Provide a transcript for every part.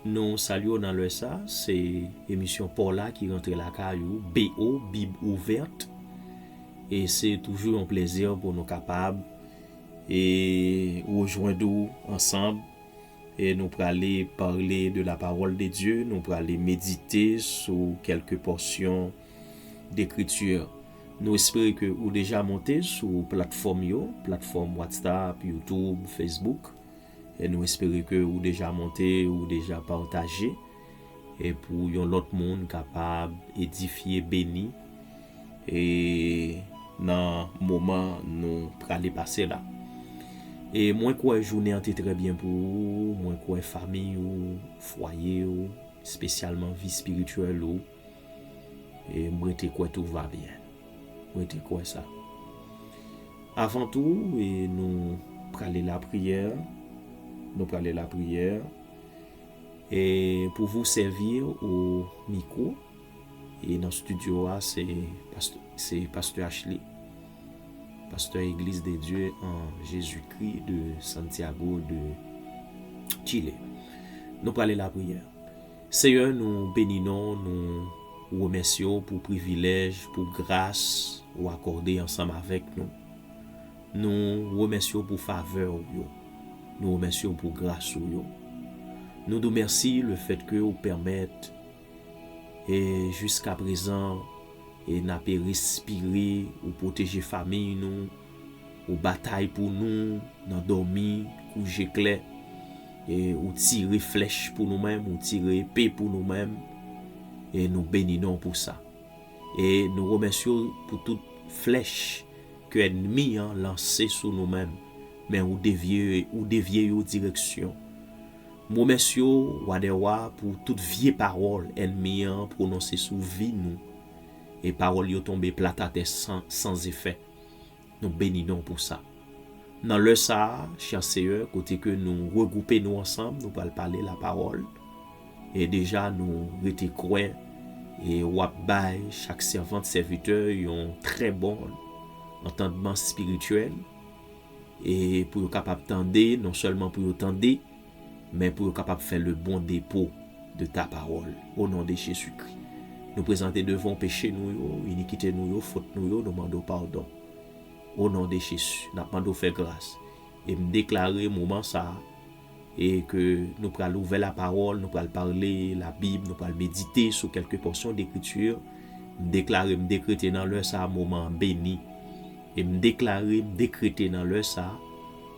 Nou salye w nan lè sa, se emisyon paw la ki rantre lakay ou BO bib ouvert e se toujou yon plezi pou nou kapab e rejwenn ou ansanm e nou prale parle de la parole de Dieu nou prale medite sou kelke pòsyon dekriti nou espere ke ou deja monte sou platfòm yo, platfòm WhatsApp, YouTube, Facebook. Nou espere ke ou deja monte, ou deja pataje e pou yon lòt moun kapab edifye, beni e nan moman nou prale pase la. E mwen kwè jounen an te trè byen pou ou, mwen kwè famiy ou, fwaye ou, espesyalman vi espirityèl ou. E m rete kwè tout va byen. M rete kwè sa. Avan tou, e nou prale lapriyè. Nou prale lapriyè. E pou vou sèvir ou mikwo. E nan studio a, se Pasteur Achley. Pasteur Eglise de Dieu en Jesus Christ de Santiago de Chile. Nou prale lapriyè. Seyè nou beni non w nou remèsye w pou privilèj pou gras ou akòde ansanm avèk nou nou remèsye w pou favè ou yo nou remèsye w pou gras ou yo nou di w mèsi lefètke ou pèmèt e jiskaprezan e n ape respire ou pwoteje famiy nou. Ou batay pou nou nan dòmi kou je klè, e ou tire flèch pou nou menm, ou tire epe pou nou menm, e nou beni non w pou sa. E nou remèsye w pou tout flèch ke ènmi an lanse sou nou menm, men ou devye ou devye yo direksyon. M remèsye w, Wa dè wa, pou tout vye pawòl ènmi an pwononse sou vi nou, e pawòl yo tonbe plat atè san san zefè. Nou beni non w pou sa. Nan lè sa a, chè Seyè, kote ke nou regwoupe nou ansanm, nou pral pale lapawòl. E deja nou rete kwè e w ap bay chak sèvant, sèvitè yon trè bon antandman espirityèl e pou yo kapab tande, non sèlman pou yo tande, men pou yo kapab fè le bon depo de ta pawòl, o non de Jezikri. Nou prezante devan w peche nou yo, inikite nou yo, fot nou yo, nou mande w padon. O non de Jezi, n ap mande w fè gras, e m deklare moman sa a, e ke nou pral ouvè la pawòl, nou pral pale la Bib, nou pral medite sou kèlke pòsyon dekriti, m deklare, m dekrete nan lè sa a moman an beni, e m deklare, m dekrete nan lè sa a,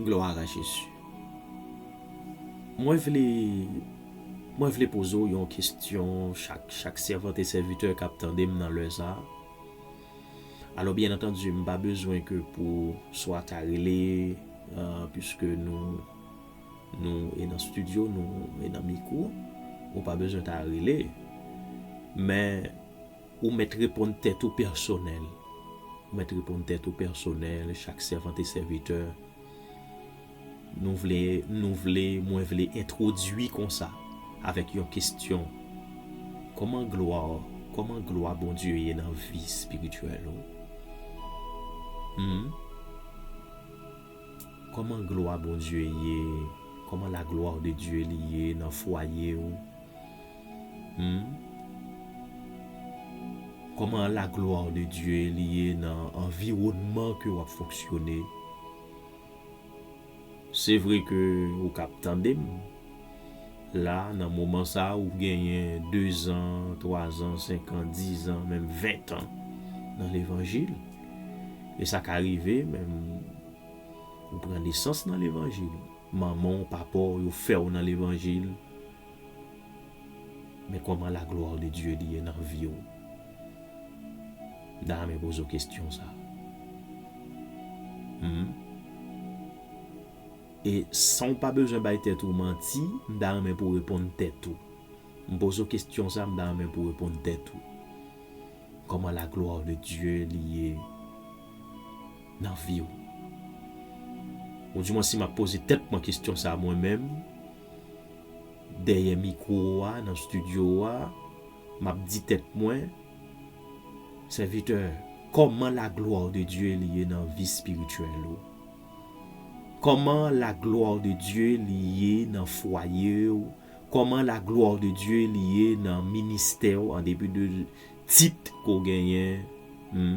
Gloire a Jésus. Mwen vle Mwen vle poze w yon kestyon chak chak sèvant e sèvitè kap tande m nan lè sa. Alò byen antandi m pa bezwen ke pou swa ta rele puiske nou nou e nan studio nou e nan mikwo ou pa bezwen ta rele men Ou mèt reponn tèt ou pèsonèl. Ou mèt reponn tèt ou pèsonèl, chak sèvant e sèvitè. Nou vle, nou vle, mwen vle entwodui konsa, avèk yon kestyon, Kòman glwa, kòman glwa Bondye ye nan vi espirityèl ou? Hum? Kòman glwa Bondye ye, kòman la gloire de Dieu li ye nan fwaye ou? Humm Koman la gloire de Dieu li ye nan anviwonman ke wap fonksyone Se vre ke ou kap tandem la nan moman sa ou genyen 2 zan, 3 zan, 5 an, 10 zan, menm 20 tan nan levanjil e sa ka rive menm ou pran nesans nan levanjil manman w, papa w yo fè w nan levanjil Men koman la gloire de Dieu li ye nan viw. M ta renmen poze w kestyon sa. Humm. E san w pa bezwen bay tèt ou manti, m ta renmen pou w reponn tèt ou. M poze w kestyon sa, m ta renmen pou w reponn tèt ou. Koman la gloire de Dieu li ye nan viw. Ou di mwen si map poze tèt mwen kestyon sa mwen menm. dèyè mikwo a, nan stidyo a, m ap di tèt mwen, Sèvitè, kòman laglwa de Dye li ye nan vi espirityèl ou? Kòman laglwa de Dye li ye nan fwaye ou? Kòman laglwa de Dye li ye nan ministè ou, andepi de tit ke w genyen? Hum.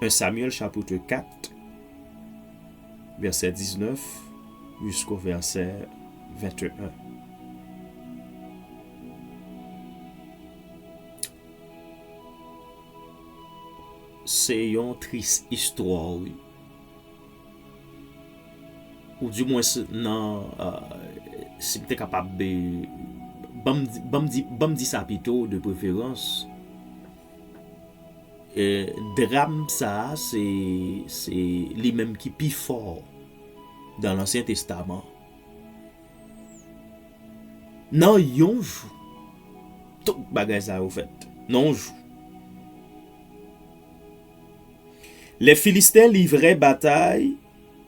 1 Samyèl chapitre 4 vèsè 19 jisko vèsè 21 Se yon tris istwa wi Ou di mwen se nan Si m te kapab Banm di sa pito de preferans Dram sa a se li menm ki pi fò dan Lansyen Testaman. Nan yon jou, tout bagay sa yo fèt. Nan yon jou. Lè Filisten livre batay.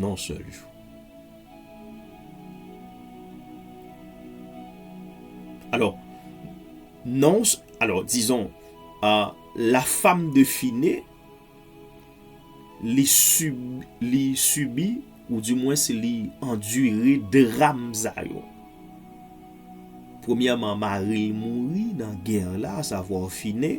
Non sèl jou. Alò, non, alò, dizon, la fam de fine, li subi, ou di mwen se li endure dram sa yo. Premyèman, mari mouri nan gè la, sa vwa fine.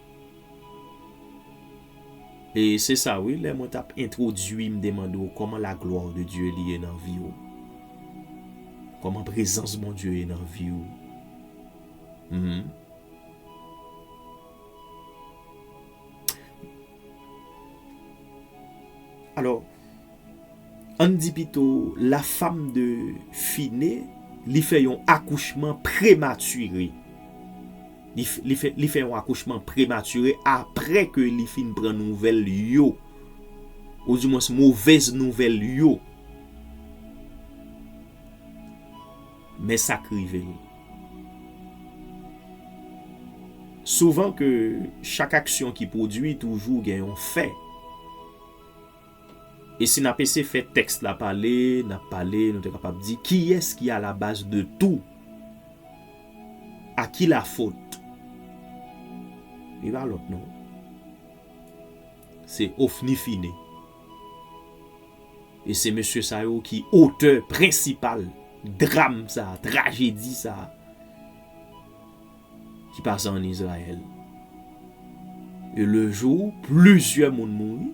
E se sa wi lè mwen tap entwodwi m te mande w kòman la gloire de Dieu li ye nan vi w? Kòman prezans Bondye ye nan vi w? Humm. Alò, ann di pito la fam de fine li fè yon akouchman prematire li fè yon akouchman prematire apre ke li fin pran nouvèl yo ou di mwens movèz nouvèl yo men sa k rive l souvan ke chak aksyon ki pwodwi toujou gen yon fè E si n ap ese fè tèks la pale, n ap pale, nou te kapab di, kiyès ki alabaz de tou? A ki lafot? Li pa lòt non. Se Ofni Fine. E se mesye sa yo ki otè prensipal dram sa a, trajedi sa a. ki pase ann Izrayèl. E lejou plizyè moun mouri,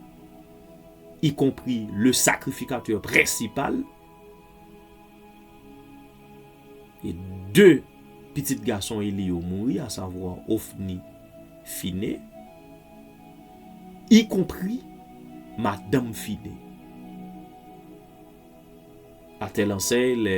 ikonpri le sakrifikatè prensipal e de pitit gason Eli yo mouri, asavwa Ofni, Fine, ikonpri madanm Fine. A tèl ansèy, lè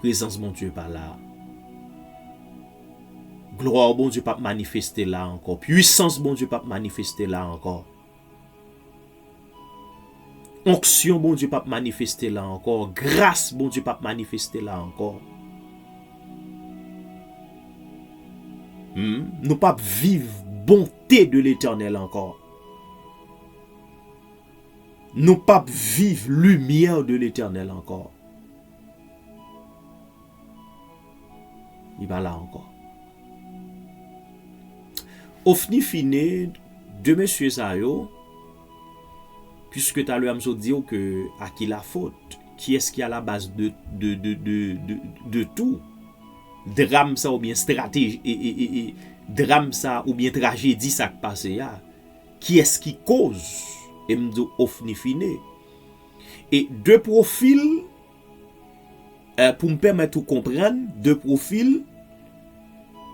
Prezans Bondye pa la. Glwa Bondye pap manifeste la ankò. Pwisans Bondye pap manifeste la ankò. Onksyon Bondye pap manifeste la ankò. Gras Bondye pap manifeste la ankò. Humm nou pap viv bonte de letènèl ankò. Nou pap viv limyè de letènèl ankò. Li pa la ankò. Ofni fine, 2 mesye sa yo, puiske talè a m sot di w ke a ki la fot, kiyès ki a la baz de tou dram sa oubyen strateji e e e dram sa oubyen trajedi sa k pase a, kiyès ki koz e m di w ofni fine. E de pwofil, pou m pèmèt ou konprann, de pwofil,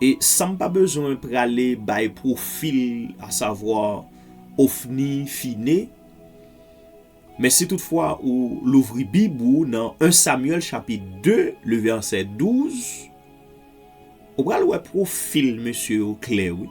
e san m pa bezwen prale bay pwofil a savwa Ofni Fine, men si tout fwa ou louvri bib ou nan 1 Samyèl chapit 2 le vèsè 12, ou pral wè pwofil mesye yo klè wi.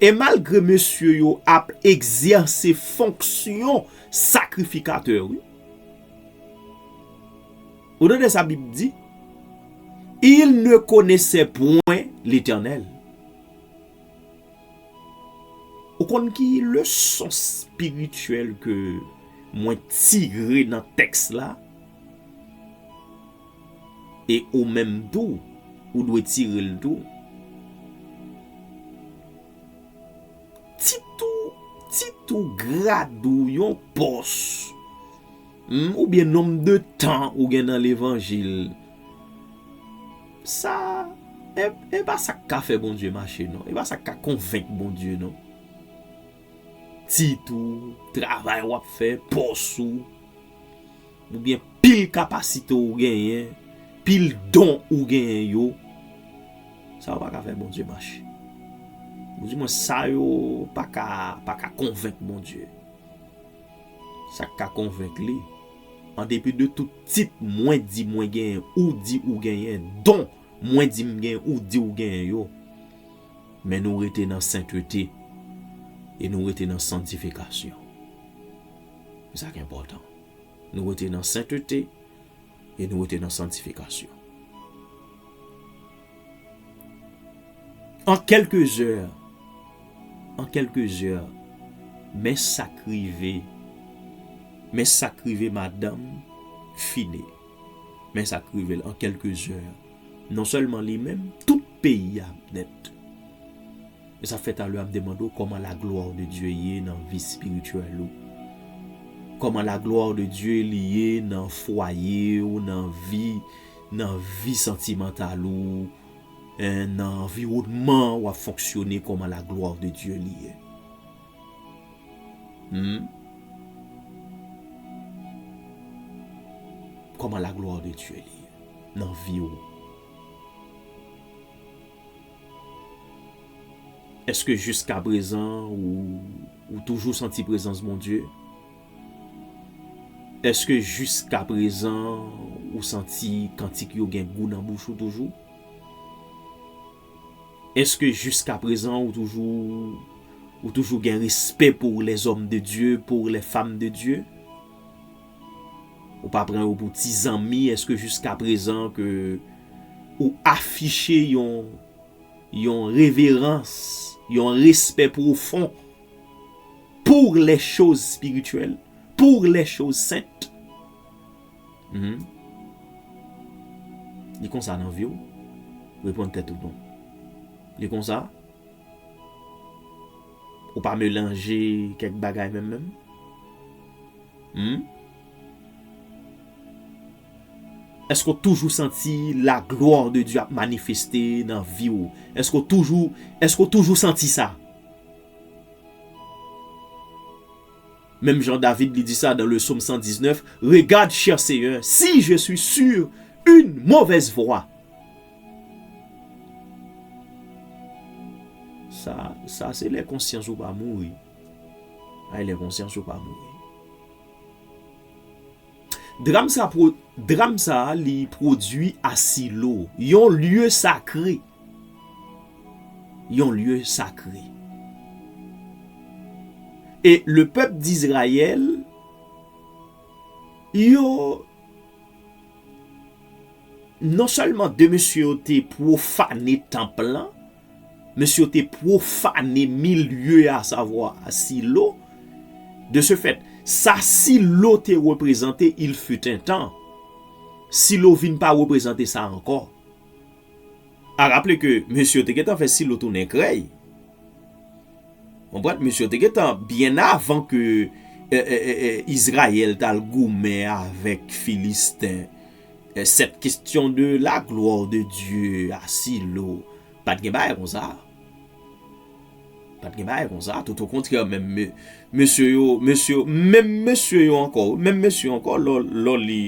E malgre mesye yo ap egzèse fonksyon sakrifikatè wi. Ou tande sa bib di? Ils ne connaissaient point l'Eternel. Ou konn ki leson spirityèl ke mwen tire nan tèks la? E ou menm tou ou dwe tire l tou. Tit ou, tit ou, grad ou, yon pòs, oubyen nonm de tan ou gen nan levanjil, sa, e pa sa k ka fè Bondye mache non. E pa sa k ka konvenk Bondye non. Tit ou, travay w ap fè, pòs ou. Ou gen pil kapasite ou genyen, pil don ou genyen yo, sa yo pa ka fè Bondye mache. Ou di mwen sa yo pa ka, pa ka konvenk Bondye. Sa k ka konvenk li, an depi de tout tit mwen di mwen genyen, ou di ou genyen, don mwen di m genyen, ou di ou genyen yo, men nou rete nan sentete e nou rete nan santifikasyon. Se sa k enpòtan. Nou rete nan sentete e nou rete nan santifikasyon. An kèlke zè, an kèlke zè, men sa k rive, men sa k rive madanm Fine, men sa k rive l an kèlke zè, non sèlman li menm, tout peyi a ap nèt. Men sa fè talè a m te mande w kòman la gloire de Dieu ye nan vi spirituel ou? Kòman la gloire de Dieu li ye nan fwaye w, nan vi, nan vi santimantal ou, en nan anviwònman w ap fonksyone kòman la gloire de Dieu li ye? Humm Kòman la gloire de Dieu li ye nan vi w? Eske jiska prezan ou toujou santi prezans Bondye? Eske jiska prezan ou santi kantik yo gen gou nan bouch ou toujou? Eske jiska prezan ou toujou gen respè pou lèzòm de Dye, pou lèfam de Dye? Ou pa pran yo pou ti zanmi eske jiska prezan ke ou afiche yon yon reverans, yon respè pwofon pou lè choz spirityèl, pou lè choz sent. Hum. Li konsa nan viw? Reponn tèt ou non. Li konsa? Ou pa melanje kèk bagay menm menm? Humm. Eske ou toujou santi la gloire de Dieu ap manifeste nan vi ou? Eske ou toujou Eske ou toujou santi sa? Menm jan David li di sa dan le Psaume 119, Regarde, cher Seigneur, si je suis sur une mauvaise voie. Sa, sa se lè konsyans ou pa mouri. Ay lè konsyans ou pa mouri. Dram sa pro, dram sa li prodwi a Silo, yon lye sakre. Yon lye sakre. E le pèp d'Izrayèl yo non sèlman de mesye yo te profane tanp lan, Mesye yo te pwofane milye a, savwa Silo. De se fèt, sa Silo te reprezante il fut un tan, Silo vin pa reprezante sa ankò. A raple ke mesye yo te gentan fè Silo tounen krèy. Konprann? Mesye yo te gentan, byen avan ke Izrayèl t al goumen avèk Filisten, Cette question de la gloire de Dieu a si lo pat gen bagay konsa pat gen bagay konsa tout au contraire menm mesye yo mesye yo menm mesye yo ankò wi menm mesye yo ankò lè w li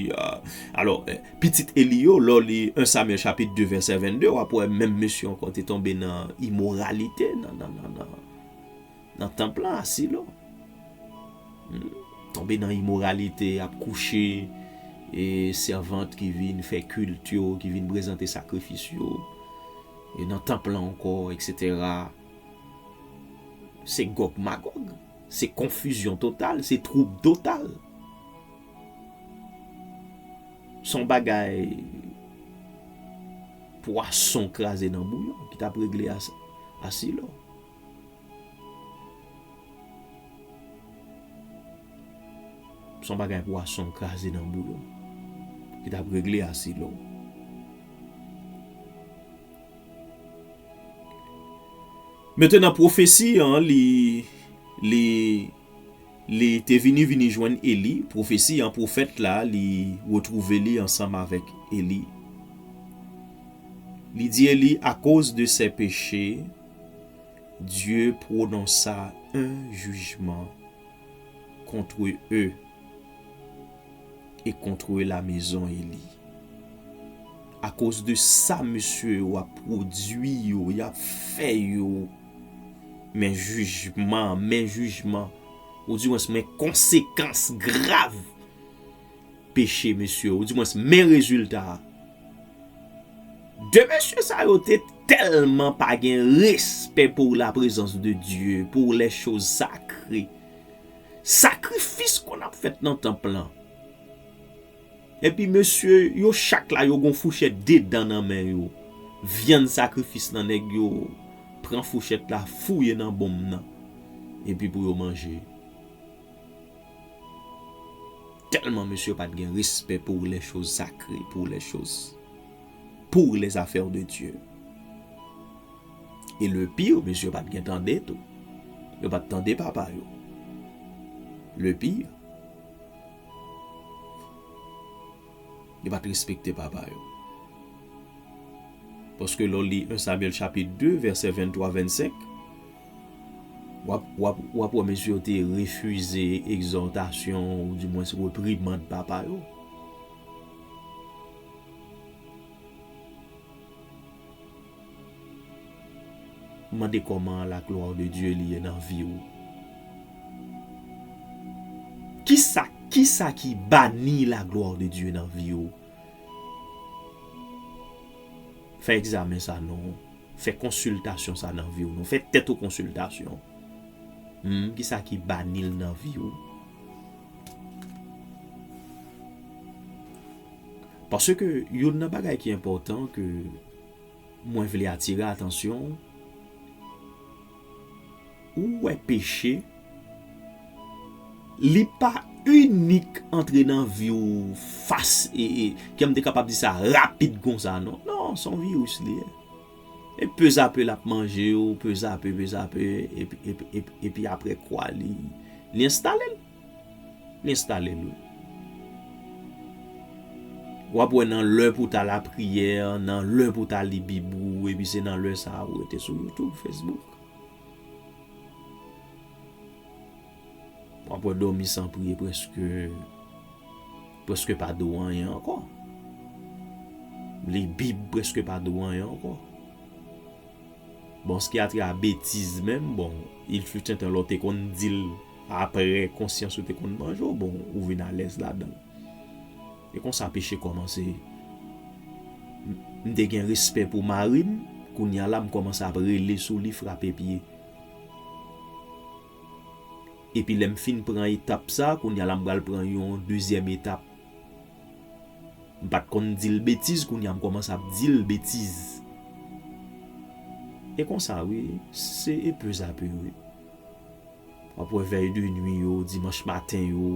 alors pitit Eli yo lè w li 1 Samuel chapitre 2 verset 22 wap wè menm mesye yo ankò te tonbe nan immoralité nan nan nan nan Nan tanp lan a Silo. Tonbe nan imoralite, ap kouche e sèvant ki vin fè kilt yo, ki vin prezante sakrifis yo. E nan tanp lan ankò, eksetera. Se Gòg Magòg. Se konfizyon total. Se twoub total. Se yon bagay pwason kraze nan bouyon ki t ap regle a Silo. Son bagay pwason kraze nan boul ki tap regle asid la. Mete nan pwofesi an li li li te vini vini jwenn Eli, pwofesi an pwofèt la li retwouve li ansanm avèk Eli. Li di Eli akoz de sè peche. Dye pwononsa en jijman kontre e e kontre la mezon Eli. A koz de sa mesye yo ap pwodui yo, y ap fè yo, men jijman, men jijman, ou di wens men konsekans grav. peche mesye ou di mwens men rezilta a. De mesye sa yo te telman pa gen respè pou la prezans de Dye, pou lè choz sakre. Sakrifis konn ap fèt nan tanp lan. Epi mesye yo chak la yo gon fouchèt de dan nan men yo. Vyann sakrifis nan nèg yo pran fouchèt la fouye nan bonm nan. Epi pou yo manje. Telman mesye pat gen respè pour les choses sacrées pour les choses pour les affaires de Dieu et le pire mesye pat gen tande tou yo pat tande papa yo le pire. Yo pa t respekte papa yo. Paske lè w li 1 Samyèl chapit 2 vèsè 23, 25, w ap wè mesye yo te refize egzòtasyon ou di mwens reprimand papa yo. Mande koman la gloire de Dieu li ye nan vi ou. Kisa kisa ki bani la gloire de Dieu nan vi ou. Fè egzamen sa non. Fè konsiltasyon sa nan vi ou non. Fè tèt ou konsiltasyon. Humm kisa ki bani l nan vi ou. Paske youn nan bagay ki enpòtan ke mwen vle atire atansyon w, ou wè peche, li pa inik antre nan vi w fas e, kem te kapab di sa, rapid konsa non. Non, se yon viris li ye. E pezape l ap manje w, pezape, pezape, epi apre kwa li enstale l. Enstale l wi. W ap wè nan lè pou w ta lapriyè, nan lè pou w ta li bib ou, epi se nan lè sa a ou rete sou YouTube, Facebook. W ap wè dòmi san priye prèske, prèske pa di w anyen ankò. Li bib prèske pa di w anyen ankò. Bon, ske a te a betiz menm, bon, il fut un tan lè w te konn di l. Apre konsyans ou te konn manje w bon, ou vin alèz ladan l. E konsa peche kòmanse. M te gen respè pou mari m, kounye a la m kòmanse ap rele sou li, frape pye. Epi lè m fin pran etap sa, kounye a la m pral pran yon dezyèm etap. M pa t konn di l betiz, kounye a m kòmanse ap di l betiz. E konsa wi, se e peuzape wi. W ap wè vèy de nwi yo, dimanch maten yo,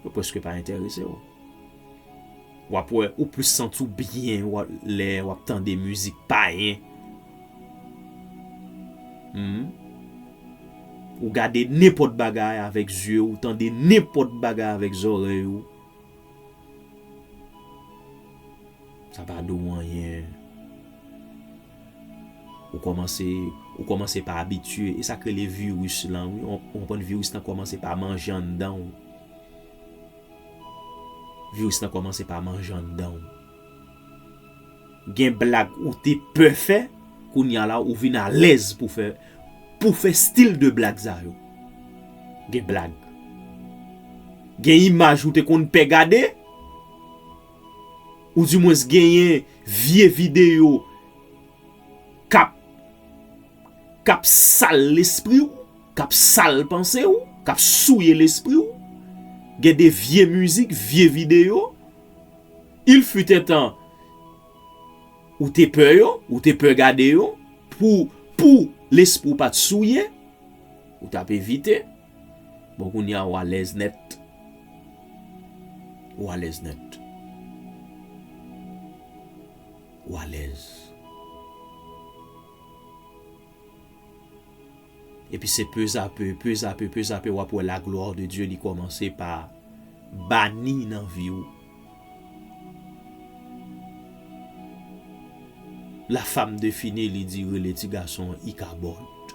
yo prèske pa enterese w. W ap wè ou plis santi w byen lè w ap tande mizik payen. Ou gade nenpòt bagay avèk zye w, ou tande nenpòt bagay avèk zòrèy ou. Sa pa di w anyen. Ou kòmanse ou kòmanse pa abitye, e sak rele virus lan wi, ou konprann virus lan kòmanse pa manje anndan w. Virus lan kòmanse pa manje anndan w. Gen blag ou te pè fè, kounya la ou vin alèz pou fè pou fè stil de blag sa yo. Gen blag. Gen imaj ou te konn pè gade. Ou di mwens genyen vye video kap kap sal lespri w, kap sal panse w, kap souye lespri w, gen de vye mizik, vye video, il fut un tan ou te pè yo, ou te pè gade yo, pou pou lespri w pat souye, ou tap evite. Bon kounya ou alèz nèt ou alèz nèt ou alèz epi se pezape pezape pezape wap wè la glwa de Dye li kòmanse pa bani nan vi ou la fam de fini li di rele ti gason ikabòd.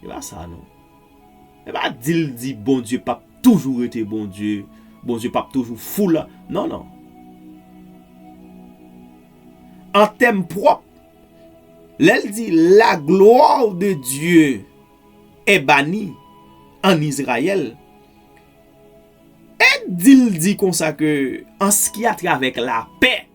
Epa sa non. Epa dil di Bondye pap toujou rete Bondye, Bondye pap toujou fou la. Non non. An tèm pwòp, lèl di la glwa de Dye e bani an Izrayèl, e dil di konsa ke an ski a travèk lapè.